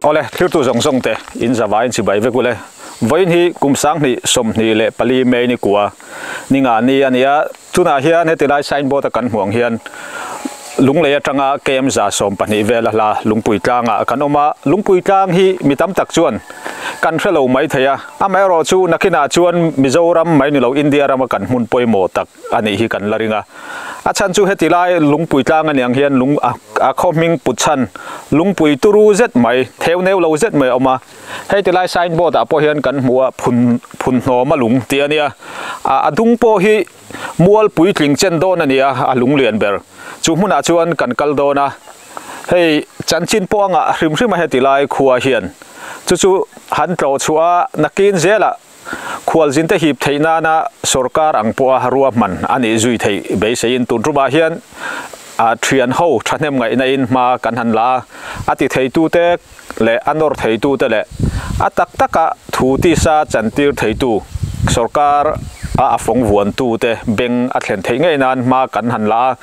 ole thlir tu zong zong te in za vai in chibai ve kule vain hi kum sang ni som ni le pali mei ni kua ni nga ni ania Tunah hian heti lai sign board a kan hmuh ang hian Lunglei atanga KMZa sawm pahnih vel a hla Lungpui Tlangah kan awm a, Lungpui Tlang hi mi tam tak chuan kan hre lo mai thei a, amaherawh chu nakhinah chuan Mizoram mai ni lo India rama kan hmun pawimawh tak a nih hi kan la ring a. A chhan chu heti lai Lungpui Tlang a niang hian lung a khaw hming put chhan Lungpui turu zet mai, theu neu lo zet mai a awm a, Hei ti lai sign board ah pawh hian kan hmu a phun phun hnawma lung tih a nia ah a dung pawh hi mual puitling chen dawn a nia a lung lian ber chu hmunah chuan kan kal dawn a hei chanchin pawh angah hrim hrim a heti lai khua hian chu chu han tlawh chhuah a nakin zelah Khualzinte hip theih nana sorkar ang pawha ruahman a nih zui theih beiseiin tunrumah hian thian ho thahnem ngaihnain hma kan han la a, a ti theitute leh a nawr theitute leh a tak taka thu tisa chantir theitu, sorkar a a fawng vuantute beng a thlen theih ngei nan hma kan han la a,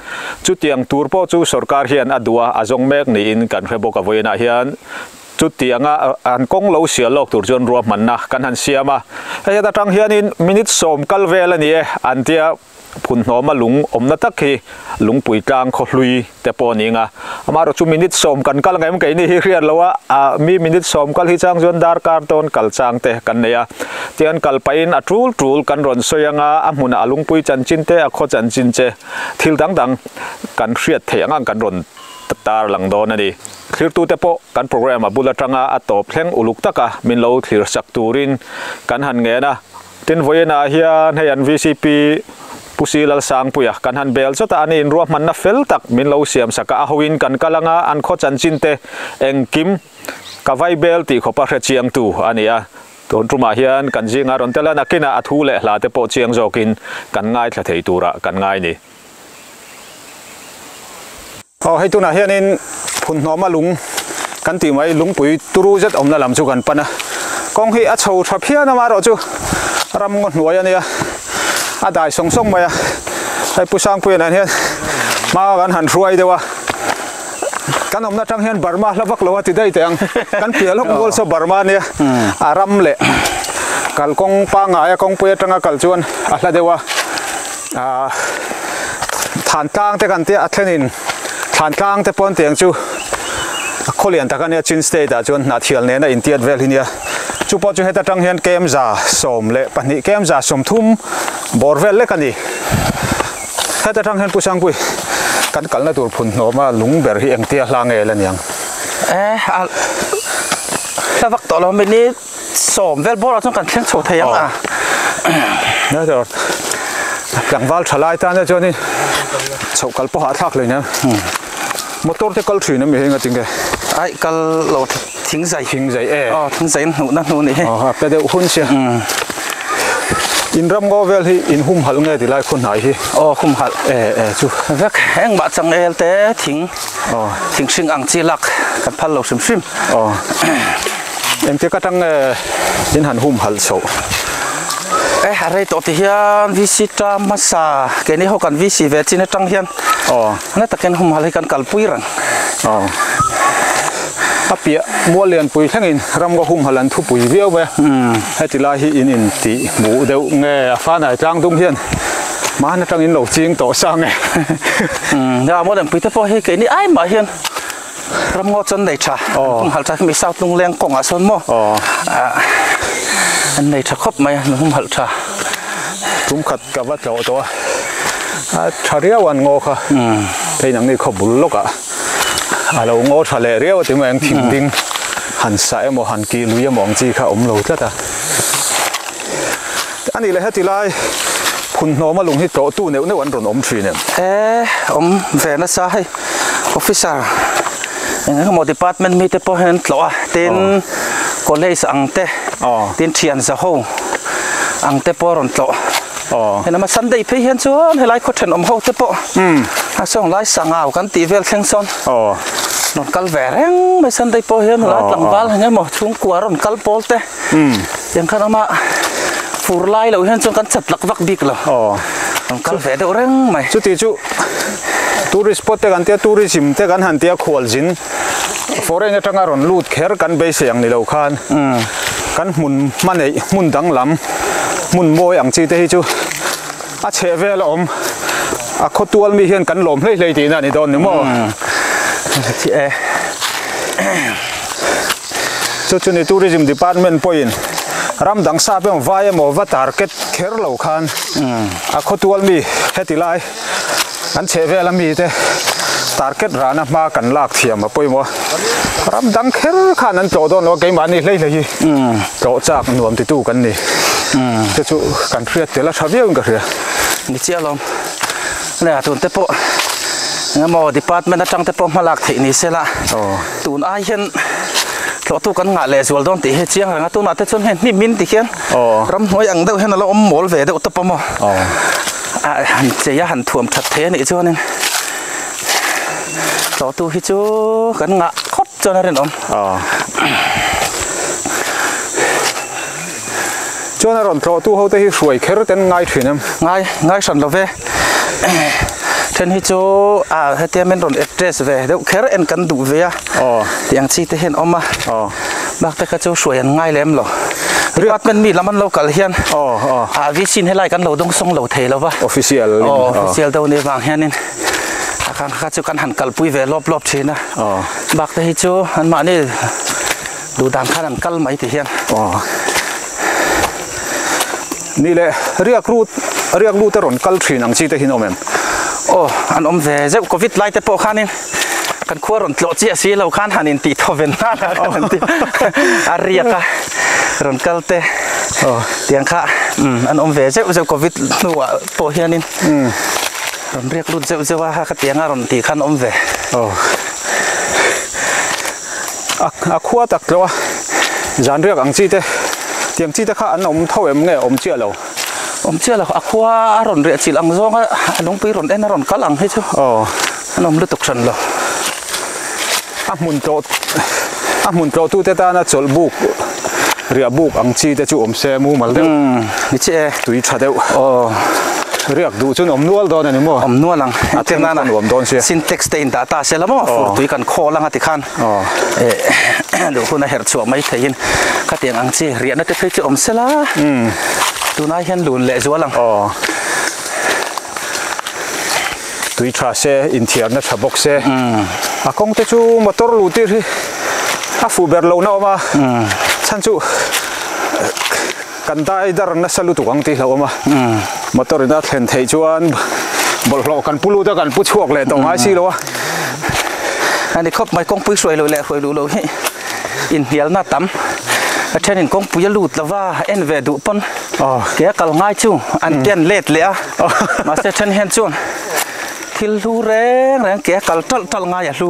chutiang tur pawh chu sorkar hian a duh a, a zawng mek niin kan hre bawk a vawiinah hian Chuti anga han kawng lo sial lawk tur chuan rua hmanna kan han siam a, hei heta tang hianin minute sawm kal vel a ni e an tia, phunhnawma lung awmna tak hi lungpui tlang khawhlui te pawh ning a, amaherawh chu minute sawm kan kal ngem keini hi hriat lo a, mi minute sawm kal hi chang chuan darkar dawn kal chang te kan nei a, tian kal pahin a tul tul kan rawn sawi anga a hmunah a lungpui chanchin te a khaw chanchin che thil dang dang kan hriat theih ang ang kan rawn Tar lang dawn a ni. Thirtute pawh kan programme a bul atanga a tawp thleng uluk taka min lo thlir chak turin kan han ngen a. Tin, vawiinah hian hei an VCP Pu Sii Lalsangpuia kan han bel chawt a, an inruahmanna fel tak min lo siam sak a. A hoin kan kal anga an khaw chanchinte engkim ka vai bel tih khawpa hrechiangtu a ni a. Dawn tumah hian kan zinga rawn tel a, nakinah a thu leh hlate pawh chiang zawkin kan ngaithla thei tura kan ngai ni. Aw hei tunah hianin phunhnawma lung kan tih mai lungpui turu zet awmna lam chu kan pan a, kawng hi a chho tha phian a amaherawh chu ramngaw hnuai a nia a dai sawng sawng mai a, hei Pu Sangpuiin ah hian hmanga kan han hruai deuh a, kan awmna atang hian Burma hla vak lo a ti daih teh ang, kan piah lawk mual saw Burma a nia a ram leh kal kawng pangngai a kawngpui atanga kal chuan a hla deuh a. Aa thlan tlang te kan tia a thlen in thlan tlang te pawn tiang chu a khaw lian tak a nia chin state ah chuan hnah thial nena in tiat vel hi nia chu pawh chu heta tang hian kem za sawm leh pahnih kem za sawm thum bawr vel lek a ni heta tang hian pu sangpui kan kalna tur phun hnawma lung ber hi engtia hla nge la niang eh a hla vak tawh lo mi ni. Sawm vel bawrah chuan kan thleng chho thei ang a. Tlangval tha lai tana chuan in chhoh kal pawh a thlak leh nen. Motor te kal thin a mi hi ngatin nge? Ai kal lo thing zai. Thing zai e. Aw thing zai hnuh na hnu nih hi. Aw pe deuh hun sia. In ram ngaw vel hi in hum halh nge ti lai khaw hnai hi. Aw hum halh. E e chu. Vek engmah chang el te thing. Aw. Thing hring ang chi lak kan phal lo hrim hrim. Aw. Engtia ka tang nge in han hum hal chhoh. Eh a rei tawh ti hian VC ta hmasa keini ho kan VC ve chin atang hian. Aw. Hla takin hum hal hi kan kal pui reng. Aw. A piah mual lian pui thlengin ram ka hum hal an thu pui viau mai a. Heti lai hi in intih buh deuh nge a fanai tlang dum hian. Mahn atangin lo ching tawh sang e. Umm heng ang maw lengpuite pawh hi keini ai mah hian ramngaw chuan nei tha. Aww. Hum halh tha hemi south lungleng kawngah sawn maw. Aww. Ah an nei tha khawp mai a min hum halh tha. Tum khat ka va tlawh tawh a. A tha riau an ngaw kha. Umm. Hei nang nge khaw bul lawkah a lo ngaw tha leh riau a tingawt ang thing ding han sa emaw han kih lui emaw ang chi kha a awm lo tlat a. A nih leh heti lai phun hnawma lung hi tlawh tu neuh neuh an rawn awm thin em? He awm ve nasa hei officer eng eng emaw department mite pawh hian an tlawh a tin college ang te tin thianza ho ang te pawh a rawn tlawh he nama sunday phei hian chuan helai khaw then awm ho te pawh a zawng lai sangau kan tih vel thleng sawn rawn kal ve reng mai sunday pawh hian helai tlangval eng emaw chhungkua rawn kal pawl te. Tiang khan awma fur lai lo hian chuan kan chhap lak vak bik lo. Aw. Kan kal ve deuh reng mai. Chutih chu tourist spot te kan tia tourism te kan han tia khual zin foreign atanga rawn lut kher kan beisei ang ni lo khan kan hmun hmaneih hmun danglam hmun mawi ang chi te hi chu a chheh vel a awm a khaw tual mi hian kan lawm hlei hlei tihna a ni dawn ni maw. Ti e. Chu chu ni Tourism Department pawhin ram dang sa pawh vai emaw va tar ket kher lo khan a khawtual mi heti lai an chheh vel a mi te tar ket ran a hma kan lak thiam a pawimawh a ram dang kher khan an tlawh dawn lo a keimahni hleihla hi tlawh chak nuam ti tu kan ni chu chu kan hriat tel a tha viau in ka hria ni chiah alawm nia tun te pawh engemaw Department atang te pawh hma lak theih ni sela. tun ai hian hlawhtu kan ngah leh zual dawn tih hi a chiang rang a tunah te chuan heng hnim in tih hian ramhnuai ang deuh hian a lo awm mawl ve deuh ta pawh maw ah han chei a han thuam that thei a nih chuan in hlawhtu hi chu kan ngah khawp chuan a rinawm. Chuan a rawn tlawhtu hote hi hruai kher ten ngai thin em? Ngai, ngai hran lo ve. Then hi chu ah hetia min rawn address ve deuh kher en kan duh ve a. Aw. Tih ang chi te hian awm a. Aw. Bakte kha chu hruai an ngai lem lo. Department mi lam an lo kal hian. Aw aw. Ah VC in helai kan lo dawng sawng lo thei lo va. Official in. Aw official deuh ni avang hian in a khan kha chu kan han kalpui ve lawp lawp thin a. Aw. Bakte hi chu an mahni. Duh dan khan an kal mai ti hian. Aw. Ni le riak ru riak lu te rawn kal thin ang chi te hi nawm em? Aw an awm ve zeuh covid lai te pawh khanin kan khua rawn tlawh chiah si lo khan han intih thaw ve nghal a khan an ti a riak a rawn kal te aw tiang kha an awm ve zeuh zeuh covid hnuah pawh hianin rawn riak lut zeuh zeuh a khatianga rawn tih khan awm ve aw. A khua tak tlo a, zanriak ang chi te, tiang chi te kha an awm tho em nge? Awm chiah lo. Awm chiah lo, a khua a rawn riahchilh ang zawng a, a lungpui rawn en a rawn kal ang hi chu. Aw. An awm lutuk hran lo. A hmun tlawh, a hmun tlawhtute tana chawlhbuk. riah buk ang chi te chu awm se mumal deuh ni che e tui tha deuh aw riak duh chun awm nual dawn a ni maw awm nual ang a theng nan a nuam dawn sia syntax te in dah ta se la maw fur tui kan khaw lang a ti khan aw eh duh hun a herh chhuah mai thei in ka tiang ang chi riah na te phei chu awm se la tunah hian lun leh zual ang aw tui tha se inthiarna tha bawk se a kawng te chu motor luh tir hi a fuh ber lo na awm a chhan chu kan dai dar nasa lutuk ang tih hlauh awm a motor in a thlen theih chuan bawlhhlawh kan pu lut a kan pu chhuak leh tawh ngai si lo a a ni khawp mai kawngpui hruai loh leh a hruai luh loh hi. inhnialna tam a thenin kawngpui a lut lova en ve duh pawn ke a kal ngai chu an ken let leh a mahse then hian chuan thil hlu reng reng ke a kal ṭalh ṭalh ngai a hlu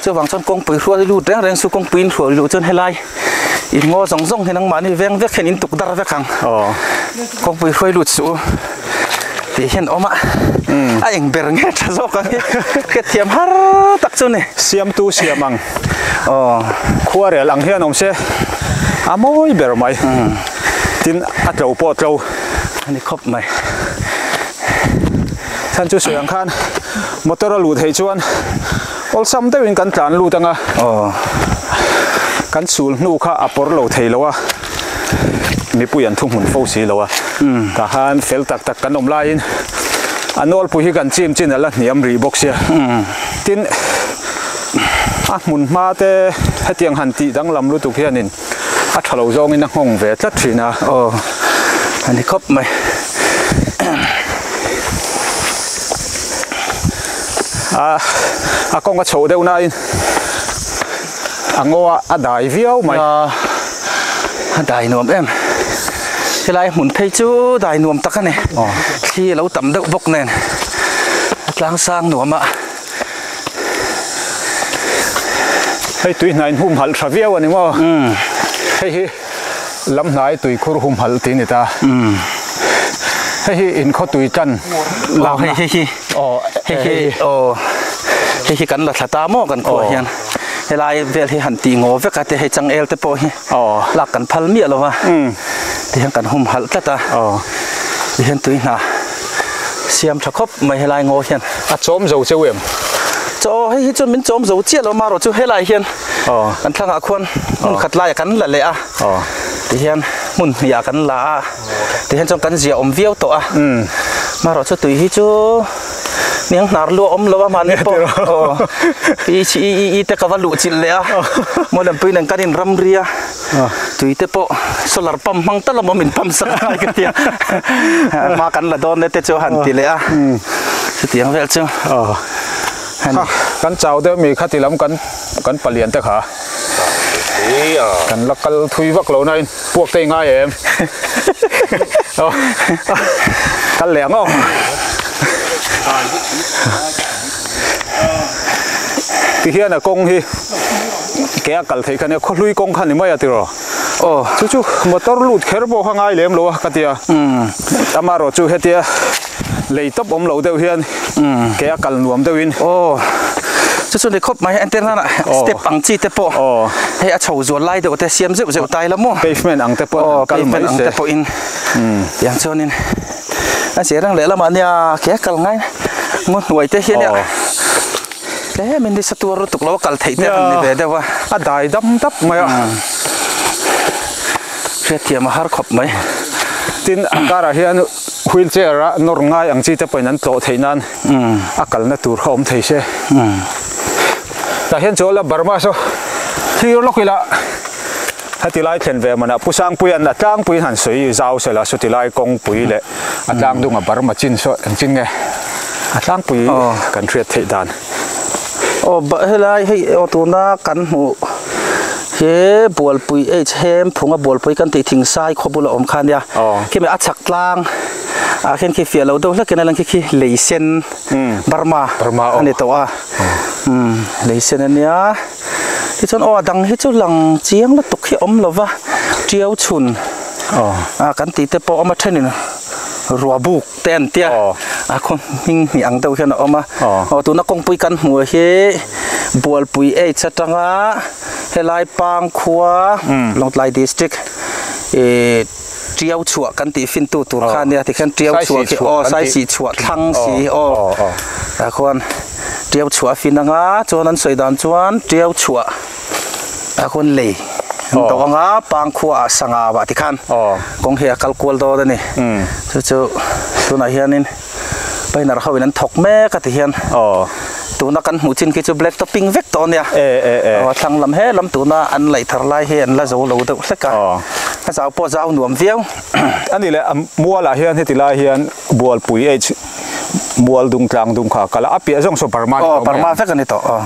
chuvang chuan kawngpui hrual i lut reng reng chu kawngpui in hrual luh chuan helai in ngaw zawng zawng hi nangmahni veng vek hian in tuk dar vek ang kawngpui hruai lut suh u. Tih hian awm a, a eng ber nge tha zawk ang hi, hrethiam har tak chu ni. Siamtu siam ang, khuarel ang hian awm se, a mawi ber mai, tin a tlo pawh tlo. A ni khawp mai. Chhan chu sawi ang khan motor a lut theih chuan awlsam deuhin kan tlan lut ang a, kan sul hnu kha a pawr lo thei lo a. mipui an thuhmun fo si lo a tah khan fel tak tak kan awm laiin a nawlpui hi kan chim chin a la hniam rih bawk sia tin a hmun hma te hetiang han tih danglam lutuk hianin a tha lo zawngin a nghawng ve tlat thin a aw a ni khawp mai a a kawng a chho deuh nain a ngaw a a dai viau mai a a dai nuam em helai hmun phei chu dai nuam tak a ni thli a lo tam deuh bawk nen a tlang sang nuam a hei tui hnai in hum halh tha viau a ni maw hei hi. Lamhnai tui khur humhalh tih a ni ta. Hei hi in khaw tui tan lak na. Aw hei hi hei hi aw hei hi kan la thla ta maw kan khuaah hian helai vel hi han tih ngaw vek a te hei chang el te pawh hi lak kan phal miah lo va ti hian kan humhalh tlat a ti hian tui hna siam tha khawp mai helai ngaw hian a chawm zo cheu em? Chaw hei hi chu min chawm zo chiah lo amarawh chu helai hian kan thlang ah khuan hmun khat lai ah kan la leh a tihian hmun hnih ah kan la a tihian chuan kan zia awm viau tawh a marawh chu tui hi chu niang hnar lu a awm lo a mahni pawh i chi i i i te ka va luh chilh leh a mawi lem pui nen kan in ram ri a tui te pawh solar pump hmang ta lawm awm in pump sak nghal ka tia hma kan la dawn leh te chu a han ti leh a chutiang vel chu. Ha, kan chau deuh mi kha ti lam kan kan palian te kha kan la kal thui vak lo nain puak te i ngai em? Kal leh ang aw. Ti hian a kawng hi ke a kal theih kha nia, khawhlui kawng kha ni mai a ti rawh. Aw. Chu chu motor lut kher pawh kha ngai lem lo a ka ti a. Umm. Amarawh chu hetia. lei tawp awm lo deuh hian kei a kal nuam deuhin aw chu chu ni khawp mai enter nana step ang chi te pawh aw hei a chho zual lai deuh te siam zeuh zeuh tai la maw pavement ang te pawh kal mai se ang te pawh in tiang chuan in a sia reng leh lam ah nia kei a kal ngai ngaw hnuai te hian aw tle min ni sa tur lutuk lo kal theih te ni ve deuh a a dai dam dap mai a hriat thiam a har khawp mai tin a kar ah hian Wheelchair ah nawr ngai ang chi te pawhin an tlawh theih nan a kalna tur kha awm thei se. Tah hian chu a la bar maw saw thlir lawk ila heti lai thlen ve man ah Pu Sangpuian a tlangpuiin han sawi zau se la suti lai kawngpui leh a tlangdung a bar machin saw engchin nge a tlangpui kan hriat theih dan. aw bah helai hei aw tuna kan hmuh he bualpui H hem phunga bualpui kan tih thingsai khaw bula awm kha nia khemi a chhak tlang ah khian khi fiah loh deuh hlek in a lang khi khi lei sen Burma a ni tawh a lei sen a nia tichuan aw a dang hi chu lang chiang lutuk hi awm lo va tiau chhun kan tih te pawh awm a thenin ruahbuk. te an tia a khaw hming hnih ang deuh hian a awm a aw tuna kawngpui kan hmuh hi bualpui age atanga helai pangkhua lawngtlai district ih tiau chhuah kan tih fin tu tur khan nia tikhian tiau chhuah khi aw sai sih chhuah thlang si aw a khawn tiau chhuah a fin anga chuan an sawi dan chuan tiau chhuah. a hun lei an tawh ang a pang khuaah sangha vah ti khan kawng hi a kal kual dawt a ni chu chu tunah hianin painer ho in an thawk mek a ti hian tuna kan hmuh chin khi chu black to pink vek tawh a nia a thlang lam he lam tuna an laih thar lai hi an la zo lo deuh hlek a a zau pawh zau nuam viau a ni leh mualah hian heti lai hian bualpui H mual dungtlang dungkha kal a a piah zawng saw parma ni tawh mai ang parma vek a ni tawh.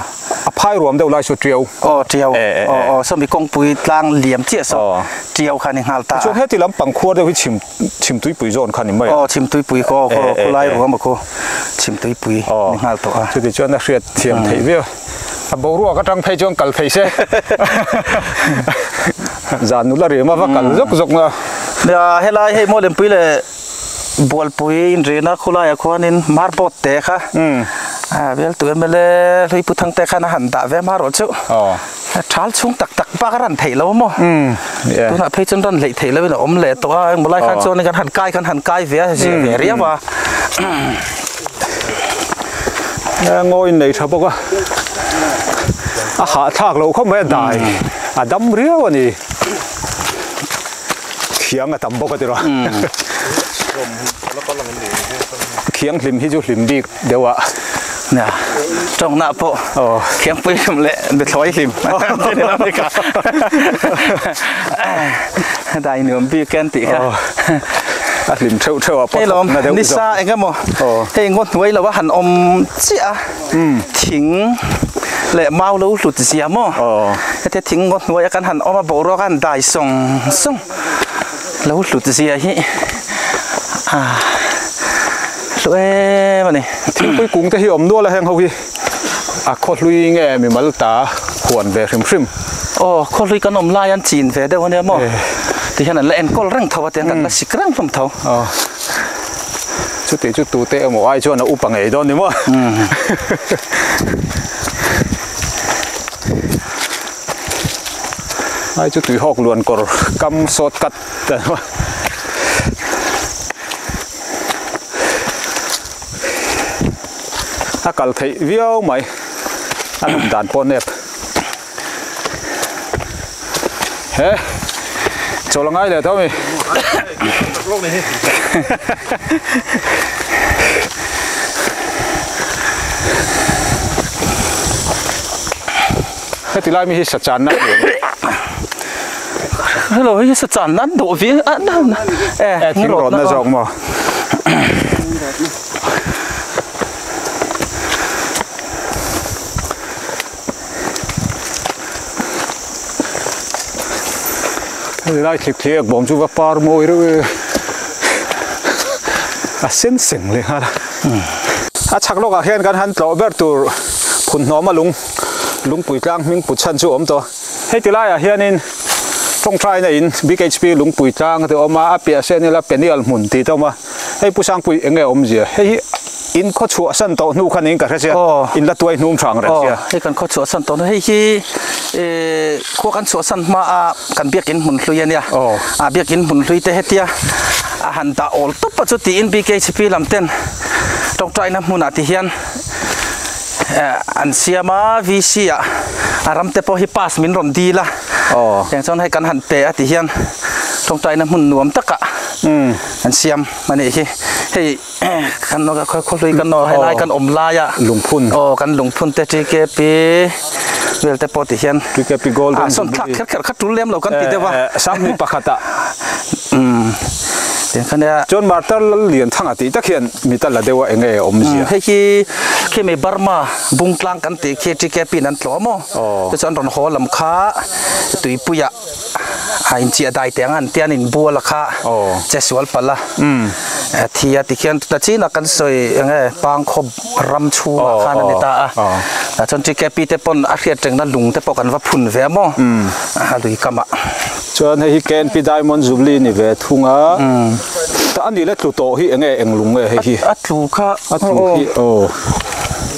a phai ruam deuh lai chu ṭiau aw ṭiau aw aw sawmi kawngpui tlang liam chiah sawk ṭiau khan i nghal ta a. Tichuan heti lam pangkhuar deuh hi chhim chhim tuipui zawn khan i mawih a. Aw chhim tuipui khaw aw khaw khulai ruam a khu chhim tuipui ni nghal tawh a. Chutih chuan a hriatthiam theih viau a boruak aṭang phei chuan kal thei se zan nula rema va kal zawk zawk a. Nia helai hei Mawlempuii leh. Bualpui inrihna khulaiah khuanin Marbot te kha Veltu mla Hluipu Thangte khan a han dah ve hma rawh chauh. Thal chhung tak tak bak a ran theih lo maw? Tunah phei chuan ran hleih theih loin a awm leh tawh a, engmaw lai khan chuan kan han kai khan han kai ve a, a ziah ve riau a. A ngawin nei tha bawk a, a hahthlak loh khawp mai a dai a dam riau a ni. Thiang a tam bawk a ti rawh. Thiang hlim hi chu hlim bik deuh a nia. Tawknah pawh thiang pui hlim leh bethlawih hlim an ti leh bik a. Heta inuam bik hian tih kha. A hlim theuh theuh a pawh thawkna deuh zawk. Tlei lawm ni sa engemaw hei ngaw hnuai lo a han awm chiah a. thing leh mau lo hlut zia maw hetiang thing ngaw hnuaia kan han awm a boruaka han dai sawng sawng lo hlut zia hi ah hlu em a ni thingpui kung te hi awm nual a heng ho hi a khaw hlui nge mi mal ta huan ve hrim hrim aw khaw hlui kan awm lai an chin ve deuh ania maw ti hian an la enkawl reng tho a tiang kan la sik reng hlawm tho. chutih chu tute emaw ai chuan a up a ngei dawn ni maw ai chu tuihawk luan kawr kam short cut a kal theih viau mai a rawn dan pawh nep. he chaw la ngai leh tho mi heti lai mi hi sa chan na hello hi sa chan nan do vi a nan e thing rot na zawk mo Light thlip thiek bawm chu va par mawi reuh e. A sen seng leh nghal a. A chhak lawkah hian kan han tlawh ber tur Phunhnawma lung lungpui tlang hming put chhan chu a awm tawh a. Hei ti laiah hianin tawngtaina in Big HP lungpui tlang a tih a awm a, a piahah sawn ila Penial hmun tih a awm a. Hei Pu Sangpuii eng nge awm zia? Hei hi in khaw chhuah san tawh hnu khan in ka hre sia, in la tuai hnum thang reng sia. Hei kan khaw chhuah san tawh hnu, hei hi khaw kan chhuah san hma a kan biakin hmun hlui a nia. A biakin hmun hlui te hetia a han dah awl tawp a chutiin BKCP lam ten Tawngtai na hmunah ti hian an siam a, VC a a ram te pawh hi pass min rawn dil a, tiang chuan hei kan han pe a ti hian Tawngtai na hmun nuam takah, Kan siam a nih hi. Hei kan nawk khaw khaw hlui kan nawk aw helai kan awm laia lungphun aw kan lungphun te tkp vel te pawh ti hian tkp gold a sawn thlak kher kher kha tul lem lo kan ti deuh a sang hming pakhat a umm tin kha nia chuan martar lal lian thang a tih tak hian mi ta la deuh a eng e a awm zia hei hi khemi burma bungtlang kan tih khi tkp in an tlawh maw aw te chu an rawn haw lam kha tuipuia a inchiah dai teh ang a an tia an inbual a kha che sual palh a thi a tikhian tuna chin a kan sawi eng nge pangkhawp ram chhung ah khan a ni ta a tah chuan tkp te pawn a hriat reng na lung te pawh kan va phun ve a maw a lui kam ah chuan hei hi knp diamond jubilee ni ve thung a tah a nih le tlu tawh hi eng nge eng lung nge hei hi a tlu kha a tlu khi aw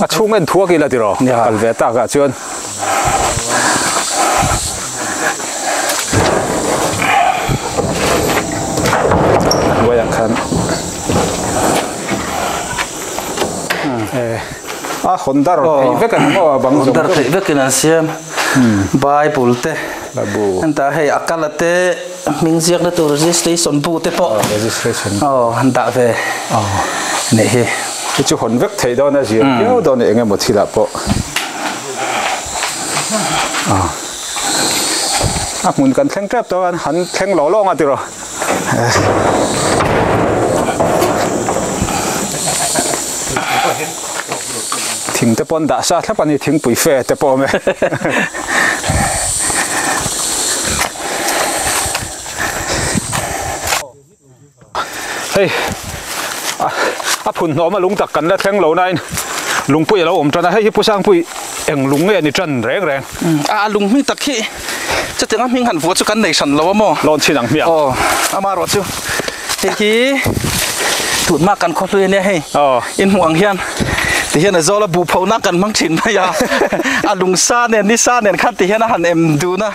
A chhung en thuak ila tiraw ka kal ve takah chuan hnuaiah khan a hawn dar theih vek a ni maw a bang zawng zawng? Hawn dar theih vekin an siam bible te. Babu. Hentah hei a kal a te hming ziakna tur registration bu te pawh aw han dah ve anih hi. Hi chu hawn vek theih dawn a ziah viau dawn a eng emaw thil ah pawh a hmun kan thleng tep dawn a han thleng lo lo ang a ti rawh. thing te pawh dah sa thlap a ni thingpui fe te pawh me hei a phun hnawma lung tak kan la thleng lo nain lungpui a lo awm tan a hei hi pu sangpui eng lung nge a ni tan reng reng a a lung hming tak hi-- chutiang a hming han vua chu kan nei hran lo a maw lawn chhin ang hmiang aw ama erawh chu hei hi tut mak kan khaw hlui ania hei aw in hmuh ang hian ti hian a zawl a bu pho na kan hmang thin mai a a lung sa nen ni sa nen khan ti hian a han em dun a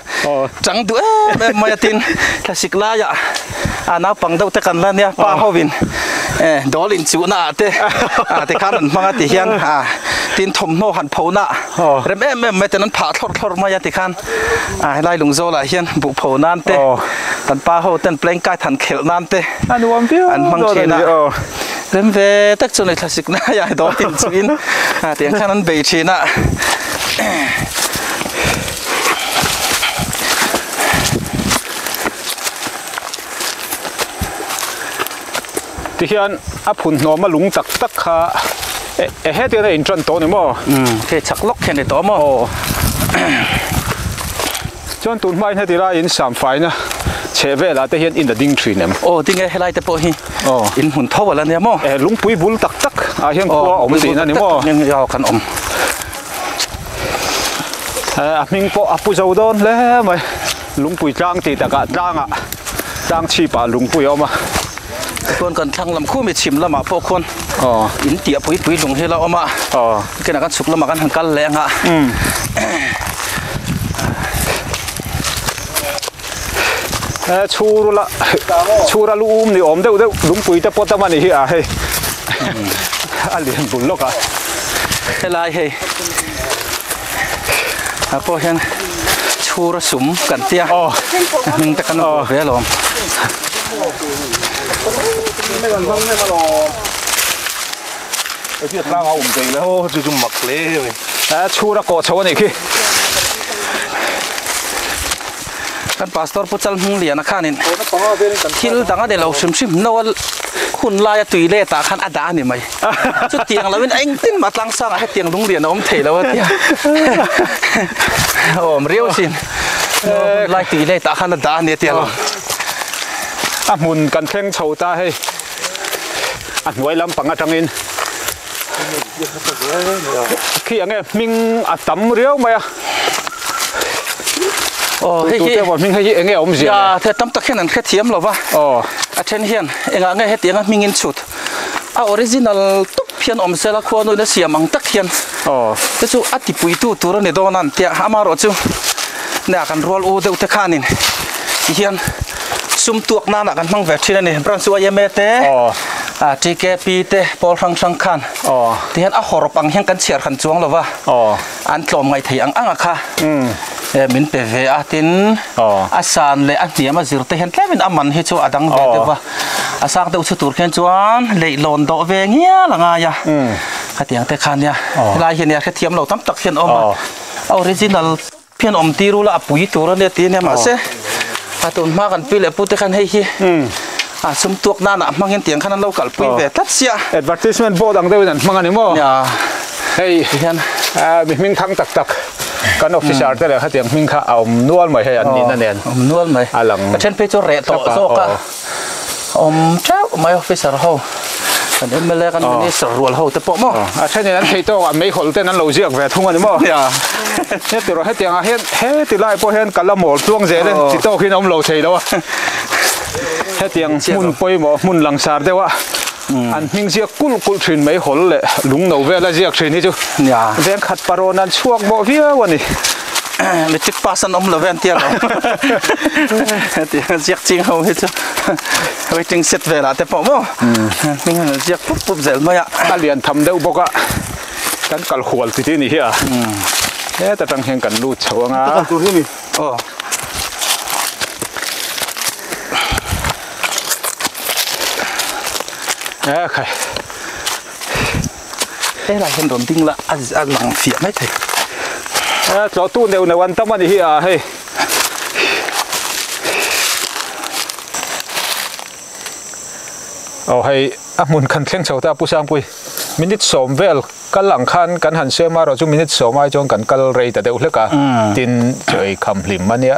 chang duh em em mai a tin thla sik lai ah a naupang deuh te kan la nia pa ho in eh dawl in chuh na ah te ah ti khan an hmang a ti hian ah tin thawmhnaw han pho na rem em em mai ten an phah thlawr thlawr mai a ti khan ah helai lungzawl ah hian buh pho nan te kan pa ho ten pleng kite han khelh nan te a nuam viau an hmang thin a rem ve tak chu nei thla sik na ya dawl in chuh in ah ti ang khan an bei thin a Tihian a phun hnawm a lung tak tak kha e hetian a inṭan tawh a ni maw? Umm hei chak lawk kha a ni tawh maw? Aw. Chuan tun hmain heti laiin sam faina chheh velah te hian in a ding ṭhin em? Aw ding e, helai te pawh hi in hmun tho alh a nia maw? E lungpui bul tak tak ah hian khua a awm tihna a ni maw? Engmah zat kan awm. E a hming pawh a pu zo dawn hle mai. Lungpui tlang tih takah tlang ah tlang chhip ah lungpui a awm a. Chuan kan thlang lam khuh mi chhim lamah pawh khuan in tih a pui pui lung hi la awm a. Khenah kan chhuk lamah kan han kal leh anga. Chhur la chhur a lu um ni awm deuh deuh lungpui te pawt a mah ni hi a hei a lian bul lawk a. Helai hei a pawh hian chhura sum kan ti a hming te kan awm ve a lawm chhura kawh chho a nih khi. kan pastor pu chalhnungliana khanin thil dang a nei lo hrim hrim no a hun laia toilet ah khan a dah a ni mai chutiang lo in a engtin mah tlang sang ah hetiang lunglian a awm thei lo a tia a awm riau sin hun lai toilet ah khan a dah a ni tia lo a hmun kan thleng chho ta hei a hnuai lampang atangin khi ange hming a tam riau mai a aw hei hi tute hming hei hi enge awm zia ya the tam tak hian an hrethiam lo va aw a then hian engah nge heti anga hming in chhut a original tawp hian awm sela khua nuih na siam ang tak hian aw te chu a tipui tu tur ani dawn a an tia ama erawh chu nia kan rual u deuh te khanin ti hian sum tuak nan ah kan hmang ve thin a ni branch chu IMA te ah TKP te Pawl Hrang Hrang khan ti hian a hawrp ang hian kan chhiar han chuang lo va an tlawm ngai thei ang ang a kha min pe ve a tin a san leh a hniam a zir te hian tlem in a man hi chu a dang ve deuh va a sang deuh chhu tur khian chuan leihlawn dawh ve ngial a ngai a khatiang te khan nia helai hian nia hrethiam lo tam tak hian a awm a original Phian awm ti rula a pui tur ania ti ania mahse a tun hma kan pi leh pu te khan hei hi a sum tuak nan ah hmang in tiang khan an lo kal pui ve tlat sia. Advertisement board ang deuh in an hmang a ni maw? Nia hei tihian mi hming thang tak tak kan officer te leh khatiang hming kha a awm nual mai hei an nih na nen a awm nual mai a lang a then phei chu reh tawh zawk a. a awm teuh mai officer ho kan mla kan minister rual ho te pawh maw a thenin an thei tawk a meihawl ten an lo ziak ve thung a ni maw hetirawh hetiang ah hian heti lai pawh hian kal a mawl tluang zel e chi tawk hi an awm lo thei lo a hetiang hmun pawimawh hmun langsar deuh ah an hming ziak kulh kulh thin meihawl leh lungno vel a ziak thin hi chu veng khat parawna an chhuak bawh viau a ni. metric pass an awm lo ve an tia lo heti ziak ching ho hi chu waiting set vela te pawh mo hming han ziak pup pup zel mai a a lian tham deuh bawk a kan kal hual ti ti ni hi a he ta tang hian kan lut chho anga kal tur hi ni o e khai He lai hian rawn ding la a a lang fiah mai thei. A tlawh tu neu neu an tam a ni hi ah hei. Aw hei a hmun kan thleng chho ta Pu Sangpui. Minute sawm vel kal ang khan kan han siam a, erawh chu minute sawm ai chuan kan kal rei ta deuh hlek a. Tin chaw ei kham hlim a nia.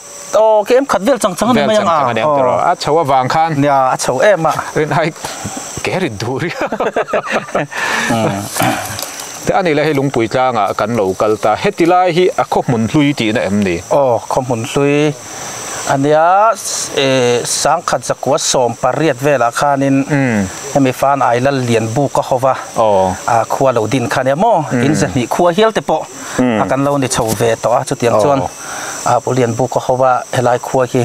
Aw ka em khat vel chang chang a ni mai ang a. Vel chang chang a ni ang tiraw. A chho avang khan. Nia a chho em a. Rin ai kei a rin duh ri a. Tih a nih leh hei lungpui tlanga kan lo kal ta. Heti lai hi a khaw hmun hlui tihna em ni? Aw khaw hmun hlui a nia Sangkhat zakua sawm pariat velah khanin hemi fan ai lal lian buk a haw va khua lo din kha a nia maw? In zahnih khua hial te pawh a kan lo ni chho ve tawh a chutiang chuan. a pawh lian buk ka ho va, helai khua hi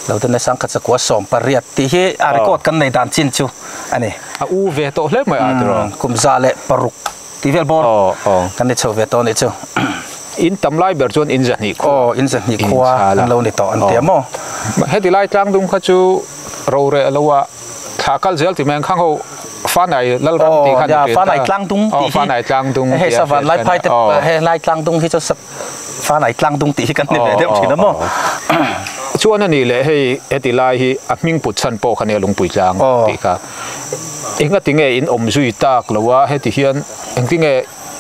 Lohdanna Sangkhat Sakua sawm pariat tih hi a record kan nei dan chin chu a ni. A u ve tawh hle mai a ti rawh. Kumza leh paruk tih vel bawr kan ni chho ve tawh a nih chu. In tam lai ber chuan in zahnih khua. Aw in zahnih khua an lo ni tawh an ti a maw? Heti lai tlang dum kha chu ro reh lo a, thla kal zel ti mai ang khang ho, Fanai Lalram tih kha a ni pin ta. Aw Fanai Tlangdung tih hi. Aw Fanai Tlangdung tih a hriat theih a. Hei savan Laiphai te pawh he Hlai Tlangdung hi chu Fan ai tlang dung tih hi kan hne ve deuh thin a maw? Chuan a nih leh hei heti lai hi a hming put chhan pawh kha nia lungpui tlang tih kha. Engati nge in awm zui tak lo a heti hian engti nge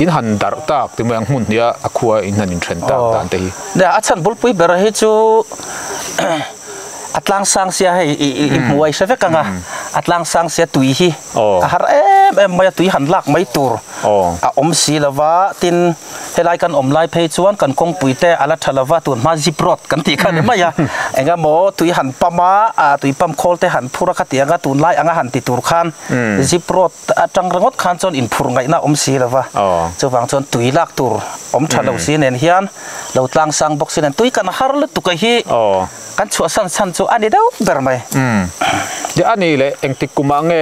in han darh tak ti mai ang hmun hniha a khua in han in then tak dan te hi. Nia a chhan bulpui ber hi chu a tlang sang sia hei i hmu ai hre vek ang a, a tlang sang sia tui hi a har em em mai a tui han lak mai tur a awm si lo va tin, Helai kan awm lai phei chuan kan kawngpui te a la tha lova tun hma zip rod kan tih kha ni mai a, engemaw tui han pump a, ah tui pump khawl te han phur a kha ti ang a, tunlai anga han ti tur khan zip rod atang ringawt khan chuan inphur ngaihna a awm si lova, chuvang chuan tui lak tur awm tha lo si nen hian lo tlang sang bawk si nen tui kan har lutuka hi kan chhuah san san chu a ni deuh ber mai. Tia a nih leh engtik kumah nge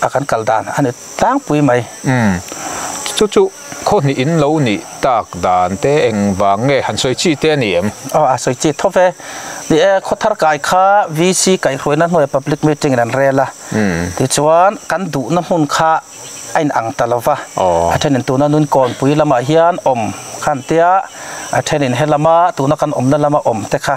a kan kal dan a ni tlangpui mai. Umm. Chu chu khaw hnih in lo nih tak dan te engvang nge? Han sawi chi te a ni em? Aw a sawi chi thawp e. Ni e, khaw thar kai kha VC kaihhruaina hnuaia public meeting in an rel a. Umm. Tichuan kan duhna hmun kha a in ang ta lo va. Aw. A thenin tuna nun kawnpui lamah hian awm kha an tia, a thenin he lama tuna kan awmna lama awm te kha.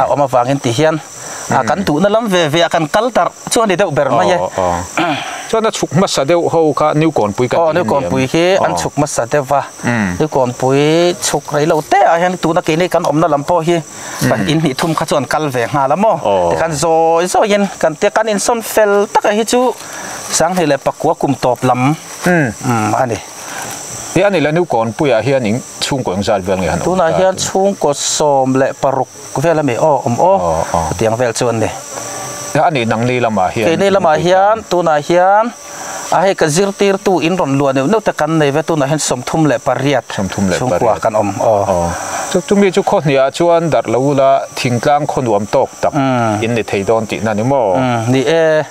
a awm avangin ti hian kan tuhna lam ve ve ah kan kal tarh chu a ni deuh ber mai e. Chuan a chhuk hmasa deuh ho kha Niukawnpui kan tih a ni ang. Aw Niukawnpui hi an chhuk hmasa deuh va, Niukawnpui chhuk rei lo te ah hian tuna kei nei kan awmna lam pawh hi kan in hnih thum kha chu an kal ve nghal a maw ti khan zawi zawi in kan ti a, kan insawn fel tak ah hi chu Sanghnih leh Pakua kum tawp lam a ni. Ih a nih la Nukawn puiah hian in chhungkaw eng zat vel nge han awm ta? Tunah hian chhungkaw sawm leh paruk vel a mi aw awm aw hetiang vel chu an ni. Ih a nih nang ni lamah hian. Kei ni lamah hian tunah hian a hei ka zirtirtu in rawn luah neuh neuh te kan nei ve tunah hian sawmthum leh pariat chhungkua kan awm aw. Chu chumi chu khaw hniah chuan darh lo ula thingtlang khaw nuam tawk tak in ni thei dawn tihna ni maw? Ni e.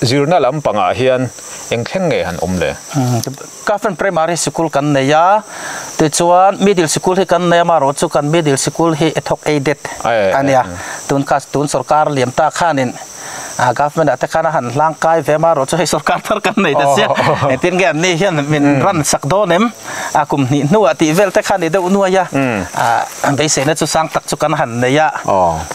Zirna lam pangah hian eng thleng nge han awm le? Kafren Primary Sikul kan nei a, tichuan Middle Sikul hi kan nei a, mahraw chu kan Middle Sikul hi e thawk Aided a nia, tun kha tun sawrkar lian ta khanin a Government-ah te khan a han hlangkai ve a, mahraw chu hei sawrkar thar kan nei ta sia, engtin nge an nih hian min ran sak dawn em? a kum hnih hnuah tih vel te khan i deuh nuai a, a beiseina chu sang tak chu kan han nei a,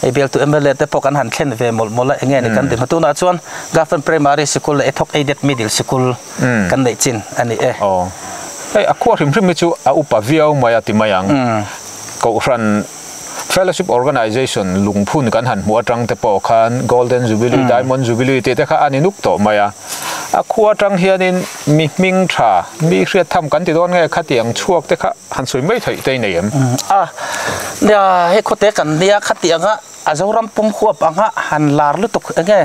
hei bialtu mla te pawh kan han thlen ve mawlh mawlh a, enge ni kan ti hma tunah chuan Government Primary Sikul leh Ethawk Aided Middle Sikul kan neih chin a ni e. Hei a khua hrim hrim hi chu a upa viau mai a ti mai ang, Kohhran. Fellowship Organization lungphun kan han hmuh atang te pawh khan Golden Jubilee, Diamond Jubilee tih te kha a ni nuk tawh mai a. A khua atang hianin mi hming tha, mi hriat tham kan ti dawn nge kha tih ang chhuak te kha han sawi mai theih daih nei em? A, nia, hei khawte kan nia kha tih anga a Zoram pumhuap anga han lar lutuk enge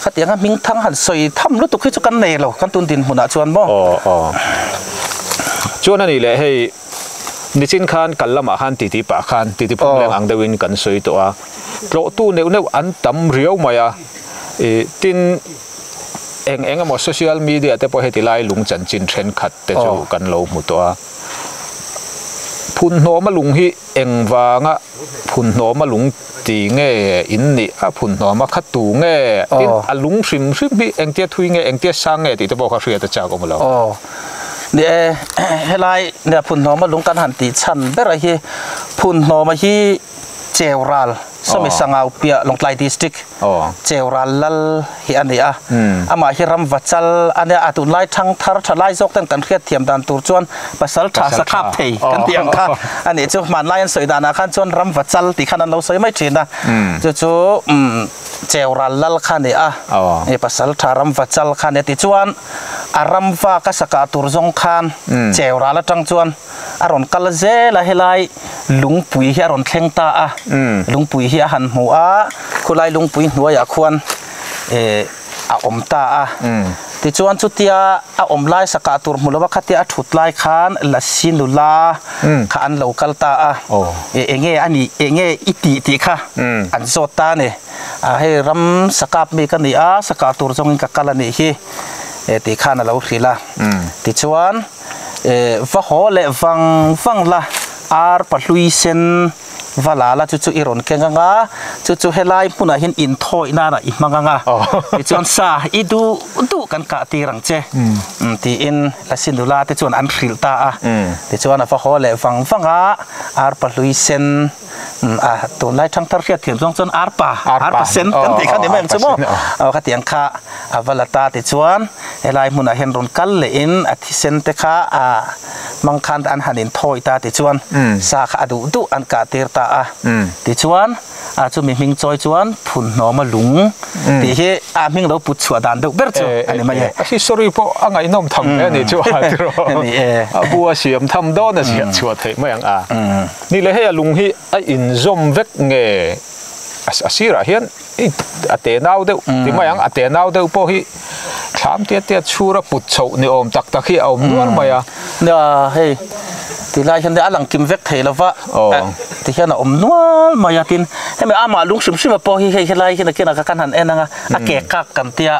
kha tih anga hming thang han sawi tham lutuk hi chu kan nei lo kan tun dinhmunah chuan maw. Aw, aw. Chuan a nih leh hei. Nichin khan kal lamah khan titi pah khan titi phung leng ang deuhin kan sawi tawh a, tlawhtu neuh neuh an tam riau mai a, tin eng eng emaw social media te pawh heti lai lung chanchin thenkhat te chu kan lo hmu tawh a, phunhnawma lung hi engvanga. phun hnawma lung ti nge in nih a phun hnawma kha tu nge tin a lung hrim hrim hi engtia thui nge engtia sang nge tih te pawh kha hriat a chak awm lo. Aw ni e helai nia phun hnawma lung kan han tih chhan bera hi phun hnawma hi cheu ral sawmi sangau piah lawngtlai district. cheu ral lal hi a ni a, amah hi ram va chal a nia, a tunlai thangthar tha lai zawk ten kan hriat thiam dan tur chuan pasal tha sakhap thei kan tih ang kha a nih chu, hmanlai an sawi danah khan chuan ram va chal tih khan an lo sawi mai thin a, chu chu cheu ral lal kha a ni a, hei pasal tha ram va chal kha a ni a, tichuan a ram va ka sakah tur zawng khan cheu ral atang chuan. a rawn kal a zel a helai lungpui hi a rawn thleng ta a lungpui hi a han hmu a khulai lungpui hnuai ah khuan eh a awm ta a tichuan chutia a awm lai sak ah tur hmu lo a khatia a thut lai khan lasi nula kha an lo kal ta a eh enge a nih eng nge i tih tih kha an zawt ta a ni ah hei ram sakap mi ka ni a sakah tur zawng in ka kal a nih hi eh tih khan a lo hrilh a tichuan. eh va haw leh vang vang la ar pahlui sen va la la chu chu i rawn keng anga chu chu helai hmunah hian in thawi nana i hmang anga tichuan sa i duh duh kan kah tir ang che tiin la sinula te chuan an hrilh ta a tichuan a va haw leh vang vang a ar pahlui sen Tunlai thangthar hriat thiam zawng chuan arpa, arpa sen kan tih kha ni mai ang chu maw? Aw ka tiang kha a va la ta tichuan helai hmunah hian rawn kal leh in a thi sen te kha a hmang khan an han in thawi ta tichuan sa kha a duh duh an kah tir ta a tichuan a chu mi hming chawi chuan Phunhnawma lung tih hi a hming lo put chhuah dan deuh ber chu a ni mai e. A history pawh a ngaihnawm tham hle a ni chu a ti rawh. A bu a siam tham dawn a ziah chhuah theih mai ang a. Ni leh hei a lung hi a inzawm vek nge? A sirah hian i a te nau deuh ti mai ang, a te nau deuh pawh hi thlam tiat tiat chhur a put chhoh ni awm tak tak hi a awm nual mai a. Nia hei ti lai hian a lang kim vek thei lo va, ti hian a awm nual mai a. Tin, hemi amah lung hrim hrima pawh hi hei helai hi nakin a kan han en ang a, a kek kak kan tia.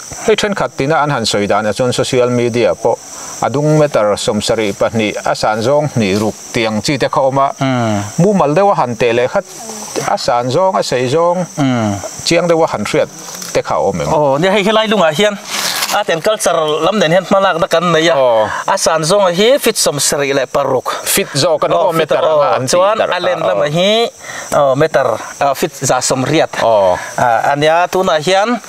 Hei thenkhat tina an han sawi danah chuan social media pawh a dung meter sawm sarih pahnih a san zawng hnih ruk tiang chi te kha awm a, mumal deuha han teh leh khat a san zawng a saih zawng chiang deuha han hriat te kha a awm em? Aw, nia hei helai lungah hian art and culture lam nen hian hmalakna kan nei a, a san zawnga hi feet sawm sarih leh paruk, feet zawk a ni maw meter anga an tih tarh a, aw, chuan a len lamah hi meter feet zahsawm hriat a nia, tunah hian.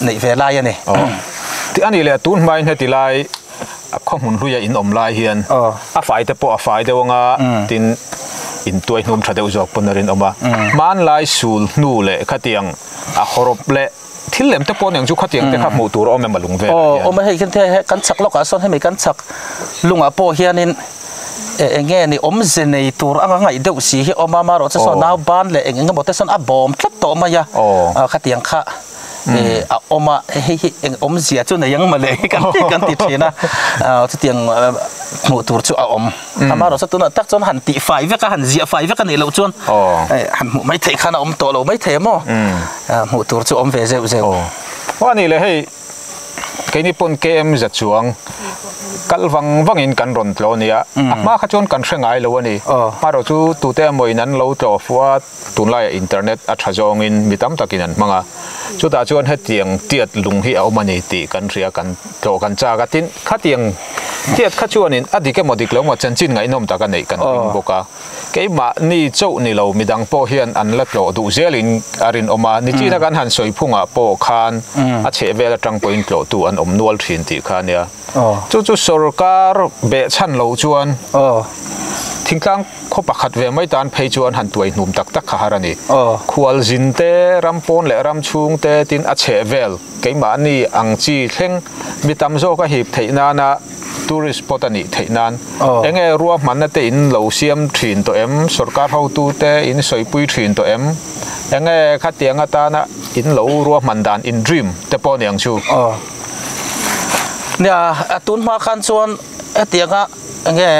neih ve lai a ni. Tih a nih leh, tun hmain heti lai a khawhmun hlui a inawm lai hian a fai te pawh a fai deuh ang a, tin in tuai hnum tha deuh zawk pawn a rinawm a. Hmanlai sul hnu leh khatiang a hawrawp leh thil lem te pawh aniang chu khatiang te kha hmuh tur a awm em a lung velah hian. Aw, awm a, hei hian hei he kan chak lawkah sawn hemi kan chak lungah pawh hianin e eng nge ni awmze nei tur anga ngaih deuh si hi a awm a, marawhchu sawn nau ban leh eng eng emaw te sawn a bawm tlat tawh mai a khatiang kha. a awm a hei hi eng awmzia chu nei ang mawle kan kan ti thin a chutiang hmuh tur chu a awm amarawhchu tunah tak chuan han tih fai vek a han ziah fai vek a nih loh chuan han hmuh mai theih khan a awm tawh lo mai thei a maw hmuh tur chu a awm ve zeuh zeuh aw a nih leh hei keini pawn km za chuang kal vang vang in kan rawn tlaw a nia a hma kha chuan kan hre ngai lo a ni amarawhchu tute amaw in an lo tlaw fuh a. Tunlaiah internet a tha zawngin mi tam takin an hmang a, chutah chuan hetiang tiat lung hi a awm a ni tih kan hria kan tlawh kan chak a, tin, khatiang tiat kha chuanin a dik emaw dik loh emaw chanchin ngaihnawm tak a neih kan ring bawk a, keimah ni chauh ni lo midang pawh hian an la tlawh duh zelin a rinawm a, ni tina kan han sawi phungah pawh khan a chhehvel atang pawhin tlawhtu an awm nual thin tih kha a nia. Chu chu sorkar beh chhan loh chuan thingtlang khaw pakhat ve mai tan phei chuan han tuai hnum tak tak kha har a ni. Khual zin te, ram pawn leh ram chhung te tin a chheh vel keimahni ang chi thleng mi tam zawk a hip theih nana tourist spot a nih theih nan eng nge ruahmanna te in lo siam thin tawh em, sorkar hotu te in sawipui thin tawh em, eng nge khatiang atana in lo ruahman dan in dream te pawh a ni ang chu. Nia a tun hma khan chuan hetianga enge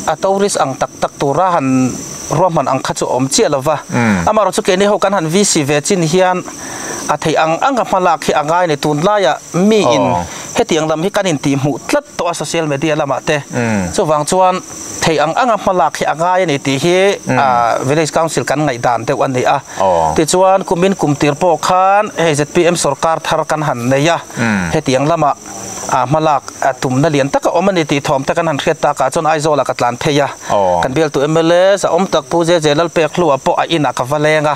a tourist ang tak tak tura han ruahman ang kha chu a awm chiah lo va. Amarawh chu keini ho kan han visit ve chin hian a theih ang ang a hma lak hi a ngai a ni. Tunlai ah miin hetiang lam hi kan intih hmuh tlat tawh a social media lamah te. Chuvang chuan. Thei ang anga hma lak hi a ngai a ni tih hi Village Council kan ngaih dan deuh a ni a. Tichuan kum in kum tir pawh khan hei zpm sawrkar thar kan han nei a, hetiang lamah hma lak tumna lian tak a awm a ni tih thawmte kan han hriat takah chuan Aizawla ka tlan phei a. Kan bialtu mls a awm tak Pu Zeze Lalpek Hluah pawh a inah ka va leng a.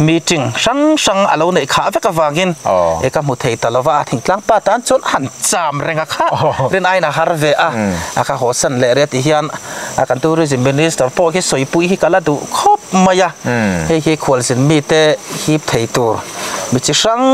meeting hrang hrang a lo neih khah vek avangin e ka hmu thei ta lo va, a thing tlang pa tan chuan a han cham reng a kha, rin aiin a har ve a, a kha haw san leh ria tih hian a kan Tourism Minister pawh hi sawipui hi ka la duh khawp mai a, hei hi khualzin mite hip thei tur mi chi hrang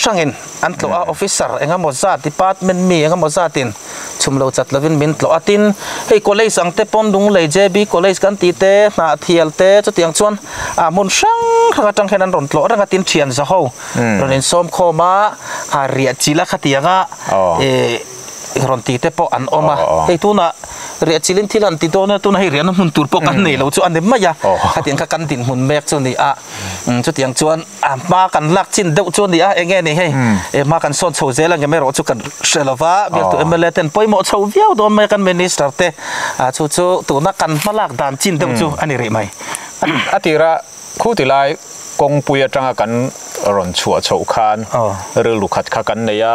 hrangin. An tlawh a, officer eng emaw zat, department mi eng emaw zatin chhum lo chat lovin min tlawh a. Tin, hei college ang te pawn Lunglei JB College kan tih te, Hnahthial te, chutiang chuan aa hmun hrang hrang atang hian an rawn tlawh reng a, tin thianza ho rawn insawmkhawm a, aa riah chilh a khatianga e. rawn ti te pawh an awm a hei tunah riahchilh in thil han ti dawn a tunah hei riahna hmun tur pawh kan nei lo chu a ni mai a hetiang kha kan dinhmun mek chu a ni a chutiang chuan hma kan lak chin deuh chu a ni a eng nge ni hei e hma kan sawn chho zel angem erawh chu kan hre lo va biak tu mla ten pawimawh chho viau dawn mai a kan minister te a chu chu tuna kan hma lak dan chin deuh chu a ni rih mai a tir a khu ti lai kawngpui atanga kan rawn chhuah chhoh khan rilru khat kha kan nei a.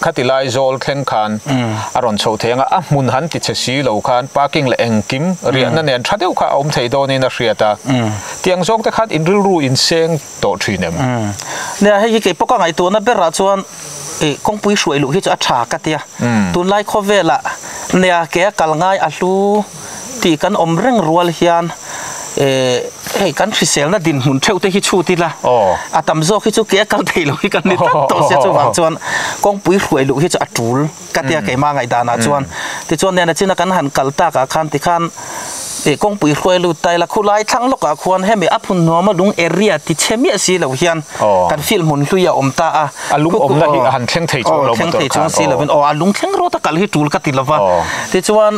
Khati lai zawl thleng khan a rawn chho thei ang a, a hmun han ti chhe si lo khan parking leh engkim riahna nen tha deuh kha a awm thei dawnin a hriat a, tiang zawk te khan in rilru in seng tawh thin em? Nia hei hi kei pawka ngaihtuahna berah chuan kawngpui hruai luh hi chu a tha ka tia, tunlai khawvela nia kei a kal ngai a hlu. tih kan awm reng rual hian ehh hei kan hriselna dinhmun theuh te hi chhut ila a tam zawk hi chu kei a kal thei lo hi kan ni tlat tawh sia chuvang chuan kawngpui hruai luh hi chu a tul ka tia keimah ngaihdanah chuan tichuan lian a china kan han kal tak ah khan tikhan eh kawngpui hruai lut ta ila khulai thlang lawk ah khuan hemi a phun nuam a lung area ti che miah si lo hian kan feel hmun hlui a awm ta a a lung awmna hi a han thleng thei chuang lo motor khan aw a lung thleng rawt a kal hi tul ka ti lova tichuan